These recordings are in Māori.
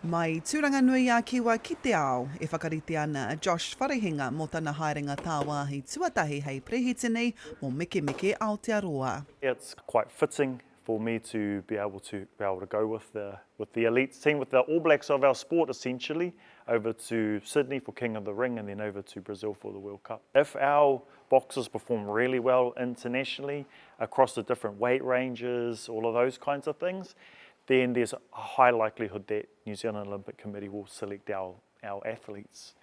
Mai Tūranganui-a-Kiwa ki te Ao, e whakarite ana a Josh Wharehinga mō tana haerenga tāwāhi tuatahi hei Perehitini mō Mekemeke Aotearoa. It's quite fitting for me to be able to be able to go with the with the elite team, with the All Blacks of our sport essentially, over to Sydney for King of the Ring and then over to Brazil for the World Cup. If our boxers perform really well internationally across the different weight ranges, all of those kinds of things, then there's a high likelihood that New Zealand Olympic Committee will select our our athletes.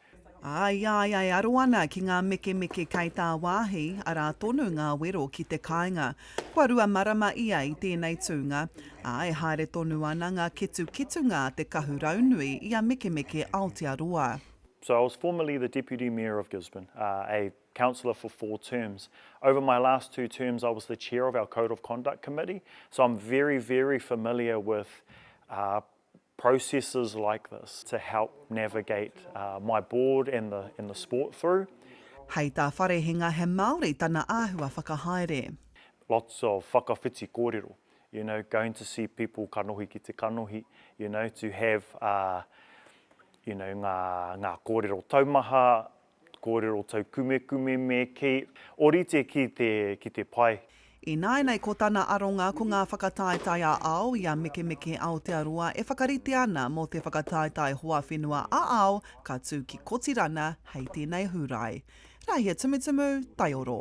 Ā, i a ia e aro ana ki ngā mekemeke kei tāwāhi, arā tonu ngā wero ki te kāinga. Kua rua marama ia i tēnei tūnga, ā, e haere tonu ana ngā ketuketunga a te kahu raunui i a Mekemeke Aotearoa. So I was formerly the Deputy Mayor of Gisborne, a councillor for four terms. Over my last two terms I was the chair of our code of conduct committee, so I'm very, very familiar with uh, processes like this to help navigate uh, my board and the, and the sport through. Hei tā Wharehinga he Māori tana āhua whakahaere. Lots of whakawhiti kōrero, you know, going to see people kanohi ki te kanohi, you know, to have uh, you know, ngā, ngā kōrero taumaha, Kōrero taukumekume me kei orite ki te pai. Ināinei ko tana aronga ko ngā whakataetae ā-ao i a Mekemeke Aotearoa e whakarite ana mō te whakataetae hoa whenua ā-ao ka tū ki Kotirana hei tēnei Hūrae. Rāhia Tumutumu, Taioro.